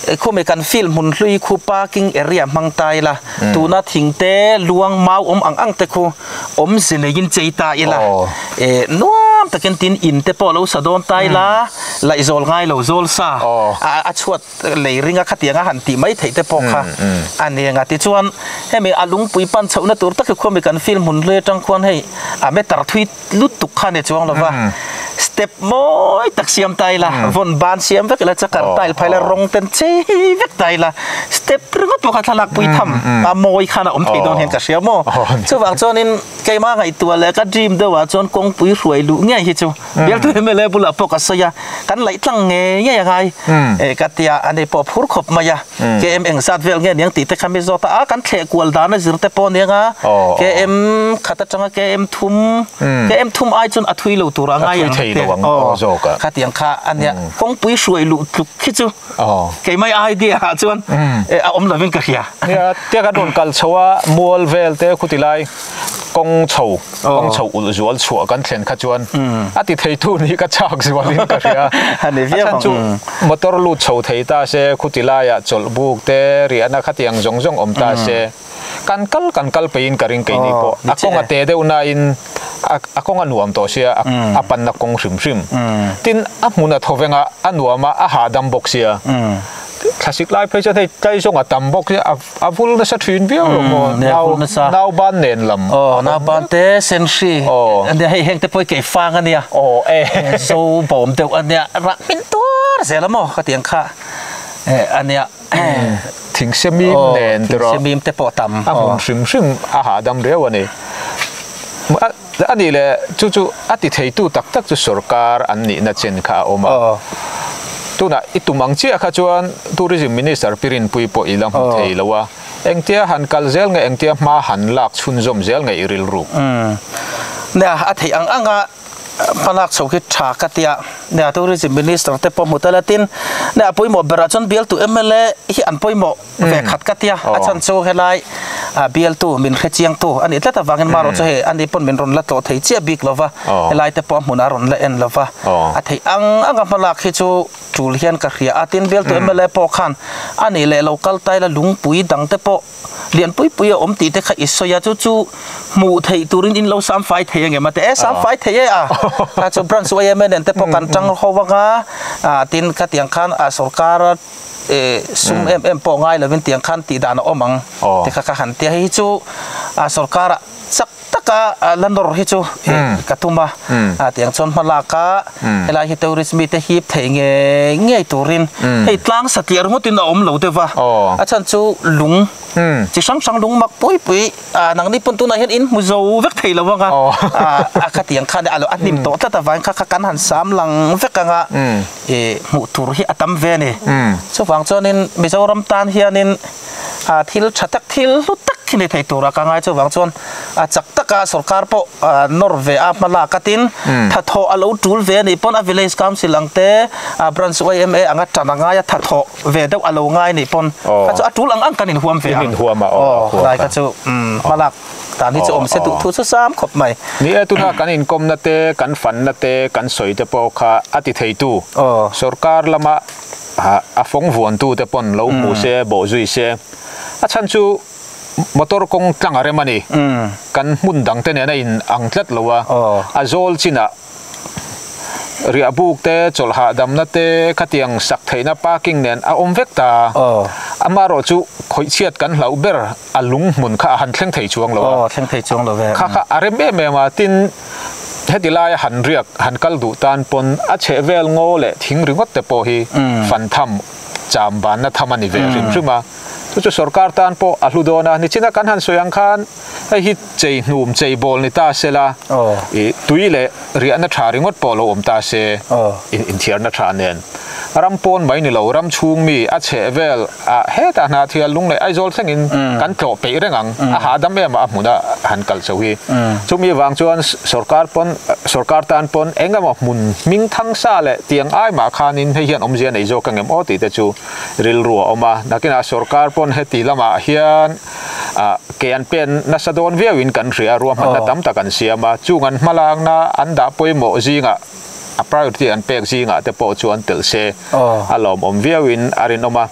e khawmi kan field hmun hlui khu parking area hmang ta ila tuna thing te luang mau awm ang ang te khu awm ze nei in chei ta ila e nuam tak in tin in te pawh lo sa dawn ta ila laizawl ngai lo zawl sa a chhuat lei ring a khatiang a han tih mai theih te pawh kha a nen a tichuan hemi a lungpui pan chhoh na tur tak hi khawmi kan field hmun hlui atang khuan hei a matter thui lutuk khan a chuang lova step mawi tak siam ta ila vawn ban siam vek ila chakar ta ila phai la rawng ten chei vek ta ila step ringawt pawh kha thlalak pui tham a mawi khan a awm thei dawn hian ka hria maw chuvang chuanin keimah ngaihtuah leh ka dream deuhah chuan kawngpui hruai luh ngei hi chu bialtu mla bulah pawh ka sawi a. kan laih tlang ngei ngei a ngai eh ka tia a ni pawh phur khawp mai a kem eng zat vel nge niang tih te kha mi zawt a a kan thleh kual dan a zir te pawh nia nga kem khat atanga kem thum kem thum ai chuan a thui lo tur a ngai ang thei lo ang aw zawk a khati ang kha a nia kawngpui hruai luh tluk khi chu kei mai ai dia ah chuan eh a awm lovin ka hria tia ka rawn kal chho a mual vel te khuti lai. kawng chho kawng chho ulh zual chhuah kan thlen kha chuan a ti thei tu nih ka chak zual in ka hria a ni viau ang a chhan chu motor lut chho thei ta se khuti lai ah chawlh buk te riah na khati ang zawng zawng awm ta se kan kal kan kal pei in ka ring kei ni pawh a kawng a te deuh na in a a kawng a nuam tawh sia a pan na kawng hrim hrim tin a hmun a tho veng a a nuam a a hahdam bawk sia thlasik lai phei chuan hei tlai zawng a tam bawk sia. A vul nasa thin viau lo maw? Umm, a vul nasa. Nau ban nen lam. Aw, nau ban te senhri. Aw. Ania hei heng te pawh i keifang a nia. Aw e. Zo bawm deuh a nia, rah hming tuar zel a maw ka tiang kha. E a nia. Thing semim nen te rawh. Aw, thing semim te pawh tam. A hmun hrim hrim a hahdam riau a ni. A nih leh, chu chu a ti theitu tak tak chu sorkar an nihna chen kha a awm a. Tunah i tum ang chiah kha chuan Tourism Minister Pi Rinpui pawh i la hmu thei lo a, engtia han kal zel nge engtia hma han lak chhunzawm zel nge i rilru. Nia, a theih ang ang a, hma lak chho khi tha ka tia nia, Tourism Minister te pawh hmu ta la tin, nia, pawimawh berah chuan bialtu mla hi an pawimawh ve khat ka tia a chhan chu helai a bialtu min hre chiang tu anih tlat avangin marawh chu hei ani pawn min rawn la tlawh thei chiah bik lova helai te pawh a hmunah a rawn la en lova a theih ang ang a hmalak hi chu tul hian ka hria a tin bialtu mla pawh khan anih leh lo kal taila lungpui dang te pawh lian pui pui a awm tih te kha i sawi a chu chu hmuh theih turin in lo sam fai thei angem ati e sam fai thei e a kha chu branch YMNN te pawh kan tang hauh anga tin khatiang khan sorkara sum em em pawh ngai lovin tiang khan tih dan a awm ang tih kha ka han tia. Hei hi chu sorkara chak taka la nawr hi chu ka tum a, tiang chuan hma laka helai hi tourist mite hip thei ngei ngei turin hei tlang satliah ringawtin a awm lo deuh va, a chhan chu lung chi hrang hrang lung mak pui pui nang ni pawn tunah hian in hmu zo vek thei lo ang a, a kha tiang khan a hnim tawh tlat avangin kha kan han sam lang vek ang a. ih hmuh tur hi a tam ve a ni chuvang chuanin Mizoram tan hianin a thil tha tak thil hlu tak khi thei tur a ka ngai chuvang chuan a chak tak a sorkar pawh ah nawr ve a hma la ka tin tha thaw a lo tul ve a nih pawn a village council ang te a branch yma anga tan a ngai a tha thaw ve deuh a lo ngai a nih pawn kha chu a tul ang ang kan in huam ve ang aw lai ka chu umm hma lak-- Kan hi chu awm se duh thu chu sam khawp mai. Ni e, tuna kan inkawmna te, kan fanna te, kan sawi te pawh kha a ti thei tu, sorkar lama a fawng vuan tu te pawn lo hmu se, bawh zui se. A chhan chu motor kawng tlang a rem a ni. Kan hmun dang te nen a in ang tlat lo a. A zawl chin ah riah buk te, chawlh hahdamna te, khatiang sak theihna parking nen a awm vek ta. Amarawh chu khawih chhiat kan hlauh ber. a lung hmun kha a han thleng thei chuang lo a, aw thleng thei chuang lo ve, kha kha a rem em em a, tin heti laia han riak han kal duh tan pawn a chheh vel ngaw leh thing ringawt te pawh hi fan tham cham vanna tham a ni ve hrim hrim a, chu chu sorkar tan pawh a hlu dawn a, nichina kan han sawi ang khan hei hi. Chei hnum, chei bawl ni ta se la, i tui leh riahna tha ringawt pawh lo awm ta se, in inthiarna tha nen ram pawn mai ni lo, ram chhung mi a chheh vel ah hetah Hnathial lung leh Aizawl thleng in kan tlawh peih reng ang, a hahdam em ah a hmun a han kal chauh hi. Chumi vang chuan sorkar pawn, sorkar tan pawn eng emaw hmun hming thang sa leh tiang ai mah khan in hei hian awmzia nei zawk ka ngem aw tih te chu rilru a awm a, nakin ah sorkar pawn heti lam ah hian a, kei an pen nasa dawn viau in kan hria, ruahmanna tam tak an siam a, chung an hmalakna an dah pawimawh zingah a priority an pek zingah te pawh chu an tel se a lawmawm viau in a rinawm a,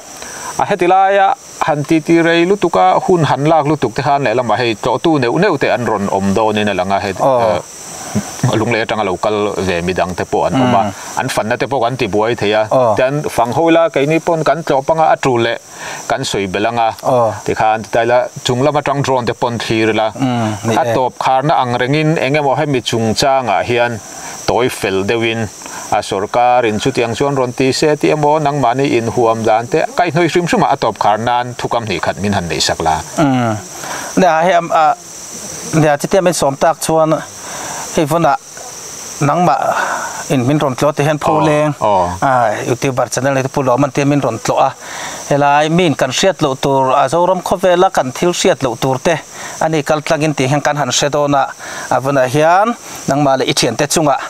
a heti laia han titi rei lutuk a hun han lak lutuk te khan lehlamah hei tlawhtu neuh neuh te an rawn awm dawn in a lang a, heti a lung leh atanga lo kal ve mi dang te pawh an awm a, an fanna te pawh kan ti buai thei a, tian fang hawila kei ni pawn kan tlawh panga a tul leh kan sawi belh anga tikhan ti ta ila chung lam atang drone te pawn thlir ila a tawp kharna ang rengin eng emaw hemi chung changah hian tawi fel deuhin a sorkar in chutiang chuan rawn ti se tih emaw nangmahni inhuam dan te kai hnawi hrim hrim a a tawp khar nan thukam hnih khat min han nei sak la nia hei a nia chutiang min sawm tak chuan hei vawna Nangmah in min rawn tlawh teh hian pho leng a youtuber channel nei te pawh loh a man tia min rawn tlawh a, helai mi in kan hriat loh tur a Zoram khaw vela kan thil hriat loh tur te a ni kal tlangin tih hian kan han hre dawn a, a vanah hian nangmah leh i thian te chungah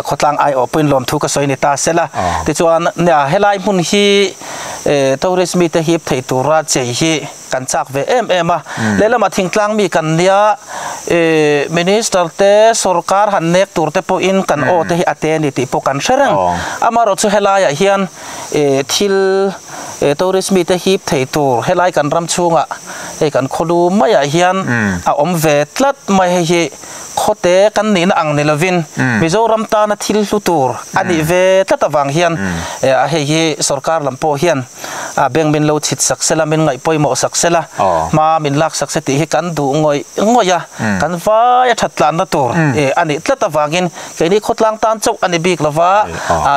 khawtlang ai awh pawhin lawm thu ka sawi ni ta se la, tichuan nia helai hmun hi tourist mite hi ip thei tura chei hi. kan chak ve em em a, lehlam a thingtlang mi kan nia, i Minister te sorkar han nek tur te pawhin kan aw te hi a te a ni tih pawh kan hre reng, amaherawh chu helai ah hian i thil i tourist mi te hip thei tur helai kan ram chhunga hei kan khawlu mai ah hian a awm ve tlat mai hei hi khawte kan nihna ang ni lovin Mizoram tana thil hlu tur a nih ve tlat avang hian hei hi sorkar lam pawh hian a beng min lo chhit sak se la, min ngaih pawimawh sak se la, hma min lak sak se tih hi kan duh ngawih ngawih a, kan vai a thattlanna tur a nih tlat avangin keini khawtlang tan chauh a ni bik lo va,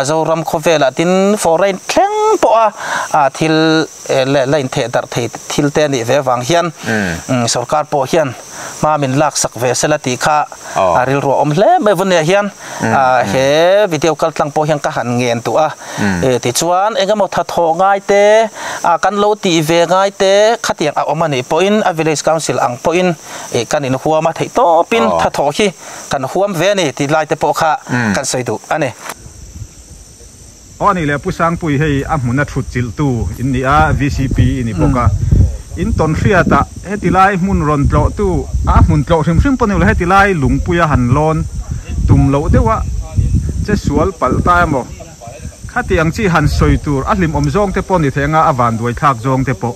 Zoram khawvelah tin fawr a in thleng pawh a, thil la intheh darh thei thil te a nih ve vang hian sorkar pawh hian, hma min lak sak ve sela tih kha a rilruah awm hle mai vun leh hian he video kal tlang pawh hian ka han ngen duh a tichuan eng emaw tha thawh ngai te a kan lo ti ve ngai te khatiang a awm a nih pawh in a village council ang pawh in ih kan in huam a theih tawp in tha thawh hi kan huam ve a ni ti lai te pawh kha kan sawi duh a ni. Aw a nih leh Pu Sangpuii hei a hmuna thutchilh tu in nia VCP i ni bawk a. In tawn hriat ah heti lai hmun rawn tlawh tu a hmun tlawh hrim hrim pawh ni awla heti lai Lungpuia han lawn tum loh deuh a che sual palh ta emaw khatiang chi han sawi tur a hlimawm zawng te pawh ni thei anga a vanduai thlak zawng te pawh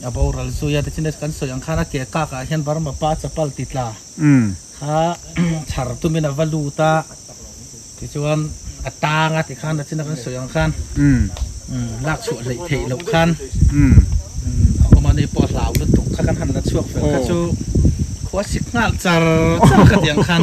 A boral zui a, te chin kan sawi ang khan a ke kak ah hian Burma pa chapal ti tla kha chhar tum in a va lut a, tichuan a tang a ti khan a chin a kan sawi ang khan lak chhuah hleih theih loh khan awm a, ni pawh a hlau lutuk kha kan han la chhuak fel kha chu khua sik nghal char char ka ti ang khan.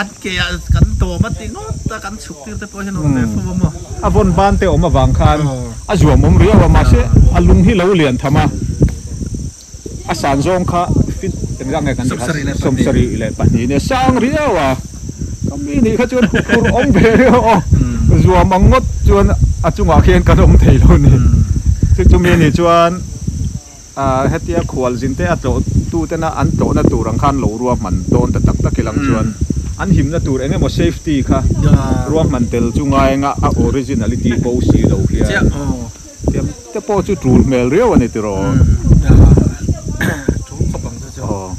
An ke ah kan dawm a ti ngawt a, kan chhuktir te pawh hian awm ve fo a maw? A vawn ban te awm avang khan a zuamawm riau a, mahse a lung hi lo lian tham a, a san zawng kha fit engzah nge kan tih kha sawmsarih leh pahnih nen a sang riau a, kami nih kha chuan hukhur awm ve riau aw, zuam ang ngawt chuan a chungah khian kan awm thei lo ni. Chu chumi ni chuan. A hetia khual zin te a tlawh tu ten a an tlawhna tur ang khan lo ruahman dawn ta tak tak i lang chuan an himna tur eng emaw safety kha ruahman tel chu ngai anga a original i ti pawh si lo hian tiang te pawh chu tul hmel riau a ni tiraw aw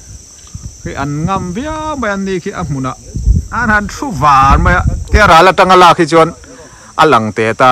khi an ngam viau mai an ni khi a hmun ah an han thu var mai a tia ral atanga lak hi chuan a lang teh ta.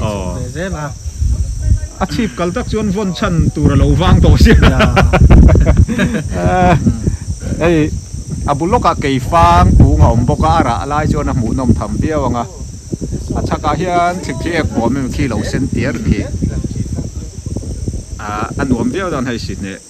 Aww a chhip kal tak chuan vawn chhan tur a lo vang tawh sia hei a bul lawkah kei fang pung a awm bawk a a rah a lai chuan a hmuh nawm tham viau ang a a chhakah hian chhip khi ek buam em khi lo sen tîr khi ahh a nuam viau dan hei si hneh.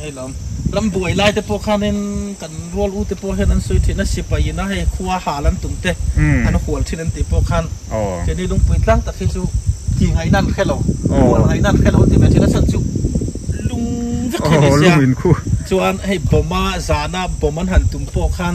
Hei lo, ram buai lai te pawh khanin kan rual u te pawh hian an sawi thin a, sipai ina hei khua hal an tum te an hual thin an tih pawh khan keini lungpui tlang tak hi chu ti ngaihna an hre lo, hual ngaihna an hre lo ti mai thin a, chhan chu lung vek hi a ni sia, chuan hei bomb a zana bomb an han tum pawh khan.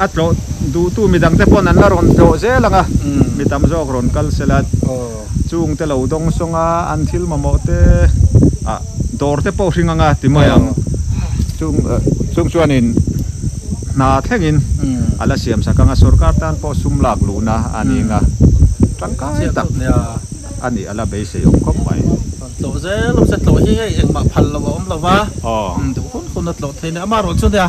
A tlawh duhtu mi dangte pawn an la rawn tlawh zel ang a, mi tam zawk rawn kal se la, chung te lo dawng sawng a, an thil mamawh te ah dawr te pawh hring ang a ti mai ang. Chung chung chuanin hna thlengin a la siam sak ang a, sorkar tan pawh sum lak luhna a ning a, tangkai tak a nih a la beisei awm khawp mai. Rawn tlawh zel awm se, tlawh hi hei engmah phal lo a awm lo va, duh hun hun a tlawh thei nen, amaherawhchu nia.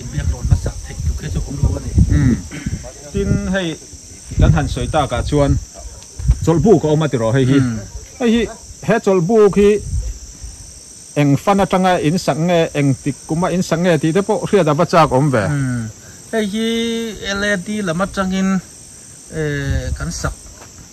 Inbiak rawh hmasa theih tluk hi chu awm lo a ni. Tin hei kan han sawi tak ah chuan chawlhbuk a awm a ti rawh hei hi. Hei hi he chawlhbuk hi eng fan atanga in sak nge eng tik kum a in sak nge tih te pawh hriat a va chak awm ve. Hei hi LED lam atangin kan sak.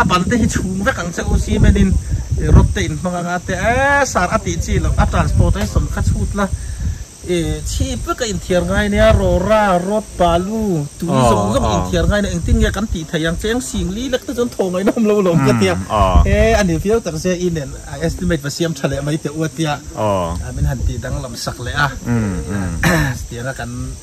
A ban te hi chhung vek ang che u si men in i rod te in hmang ang a te eh sir a tih chi lo a transportation kha chhut la i chhip vek a in thiar ngai nia rawra road balu tui zawng zawng in thiar ngai nia engtin nge kan tih thei ang che eng sing li lek te chuan thaw ngaih nawm lo lawm ka ti a he a ni viau tak zia i nen a estimate va siam tha leh mai teh u a tia min han tih dang lam sak leh a chutianga kan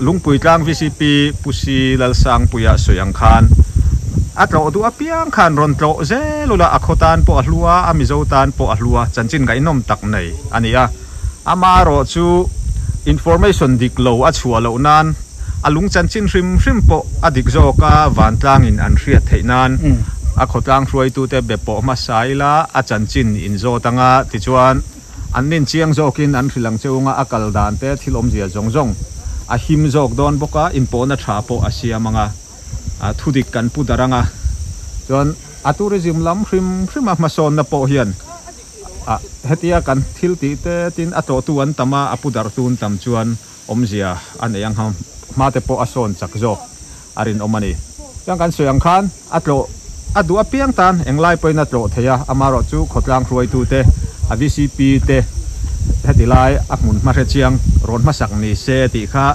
Lungpui tlang VCP Pu Si Lalsangpuia sawi ang khan a tlawh duh apiang khan rawn tlawh zel ula a khaw tan pawh a hlu a, a Mizo tan pawh a hlu a, chanchin ngaihnawm tak nei a ni a. Ama erawh chu information dik lo a chhuah loh nan a lung chanchin hrim hrim pawh a dik zawk a, vantlangin an hriat theih nan a khawtlang hruaitute be pawh hmasa ila a chanchin in zawt anga tichuan An min chiang zawk in an hrilh ang chung a, a kal dan te thil awmzia zawng zawng a him zawk dawn bawk a, inpawhna tha pawh a siam ang a, thu dik kan pu dar ang a, chuan a tourism lam hrim hrim a hmasawnna pawh hian hetia kan thil tih te tin a tlawhtu an tam a, a pu dartu an tam chuan awmzia a nei ang hma te pawh a sawn chak zawk. a rinawm a ni. Tiang kan sawi ang khan a tlawh a duh apiang tan englai pawhin a tlawh thei a, amarawh chu khawtlang hruaitute, a vcp te heti lai a hmun hmahre chiang rawn hmasak ni se tih kha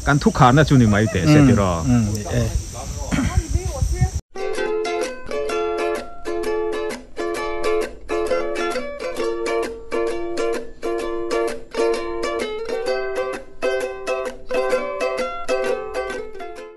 kan thukharna chu ni mai teh se tiraw.